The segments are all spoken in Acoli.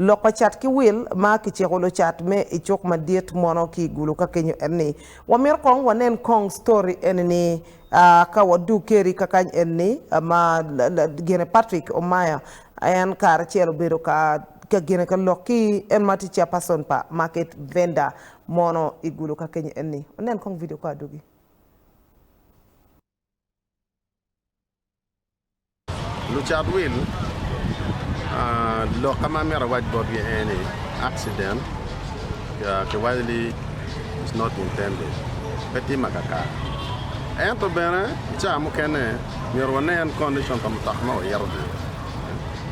Lok pa cat ki wil ma kiciko lucat me i cuk madit mono ki i gulu ka kenyo en ni, wamito kong wanen kong story eni ni aa ka wadug keri ka kany eni ni ma gene Patrick Omaya en kare acel obedo ka ka gene ka lok ki en ma tye chairperson pa market vendor mono i gulu ka kenyo eni ni. Wanen kong video ka adugi. Lucat wil, lok ma amito awac botgi aye ni accident kiwaco ni it's not intended pe tim akakare ento bene ca mukene myero wanen condition pa mutoka ma waito-ni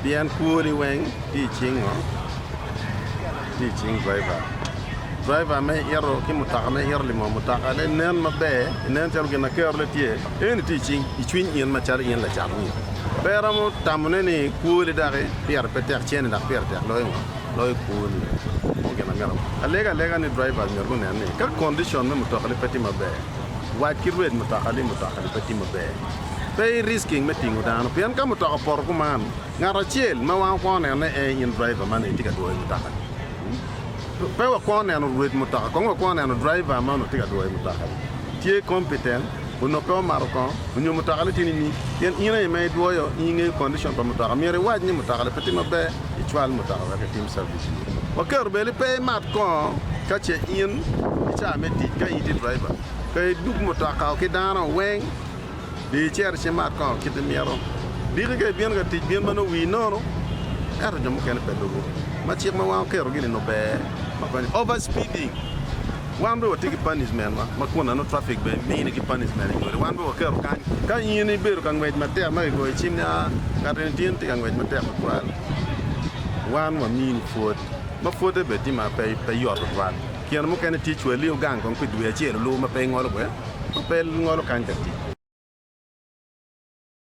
pien kwoni weng tye i cing ngo? Tye i cing driver, driver ma ito ki mutoka ma ito limo mutoka-ne nen maber nen calo gin ma kerone tye. En iti i cing i cwiny in macalo in lacat winy. Pe iromo tamone ni kwoli daki pire pe tek cene dok pire tek loyo ngo? Loyo kwoni. Moko gin amito alega alega ni drivers myero gunen ni ka condition me mutokagi pe tye maber, wac ki rwed mutoka ni mutokagi pe tye maber. Pe i risking me tingo dano pien ka mutoka opoto kuman, ngat acel ma wan wakwongo neno ni ee in driver man aye tye ka dwoyo mutokani. Pe wakwongo neno rwed mutoka, kong wakwongo neno driver ma onongo tye ka dwoyo mutokani tye competent. onongo pe omato kongo onyo mutokane tye nining? Pien in aye ma idwoyo in ingeyo kondicon pa mutoka, myero iwac ni mutokane pe tye maber icwal mutoka wek itim cabic iye. Waketo bene ni pe imat kongo ka ce in i caa me tic ka in itye driver. Ka iduk mutokau ki dano weng, di icito ci imat kongo kit imito. Diki ka ibino ka tic bin ma nongo wii nono ento jo mukene pe lubo ma cik ma wan oketo gi ni nongo ber ma konyo. Over speeding. Wan bene watye ki panismentwa ma kun nano trafik bene mini ki panisment inywali. Wan bene waketo kany ka in ibedo ka ngwec matek ma kigoyo cim ni, aa, ngat eni tye ka ngwec matek tutwal, wan wamini pwod. Ma pwodde bene tye ma pe yot tutwal. Kine mukene tye cwali ogang kong pi dwe acel olu ma pe ingolo bwe, ma pe ingolo kany ka tic.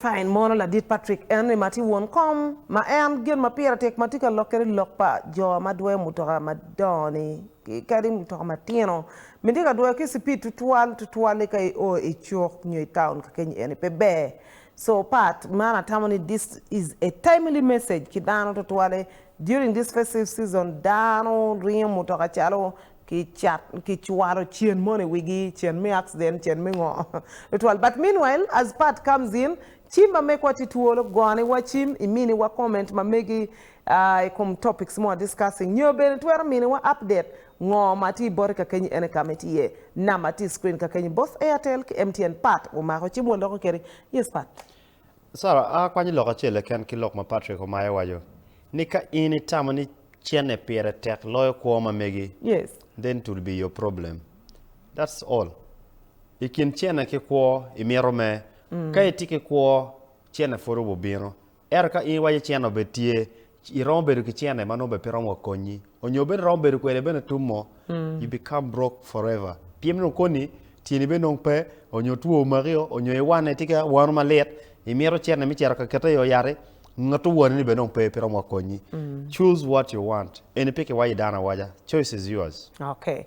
Ka in mono Ladit Patrick Henry ma tye won kom ma en gin ma pire tek ma tye ka lokke ni lok pa jo ma dwoyo mutoka madongo-ni kadi mutoka matino, miti ka dwoyo ki cipid tutwal, tutwal-li ka io i cuk nyo i taun kakeny eni pe ber. So part man atamo ni this is a timely message ki dano tutwale during this festive season dano ringo mutoka calo ki cwaro cen mono i wigi, cen me accident, cen me ngo tutwal but meanwhile as part comes in ci mamegwa tye twolo gone wa cim i mini wa comment mamegi aah i kom topics moa discussing nyo bene twero mini wa update ngo ma tye boti kakenyi ene ka ma tye number tye i screen kakenyi both Airtel ki MTN part wumako cim waloko kedi yes part. Sarah, a kwanyo lok acel keken ki lok ma Patrick omaye waco ni ka in itamo ni cene pire tek loyo kwo ma megi, Yes. then it will be your problem. That's all. I kin cene ki kwo imito me. Ka itye ki kwo, cene pud obubino. Ento ka in iwaco cene obed tye, Iromo bedo ki cene ma nongo bene pe romo wa konyi onyo bene iromo bedo kwede bene tum mo you become broke forever pien nongo koni tyeni bene nongo pe onyo two omaki o onyo iwane tika wano malit imito cene me cito ka kete i o yati ngat owani ni bene nongo pe pe romo wa konyi choose what you want eni pe kiwayo i dano awaca choice is yours. Okay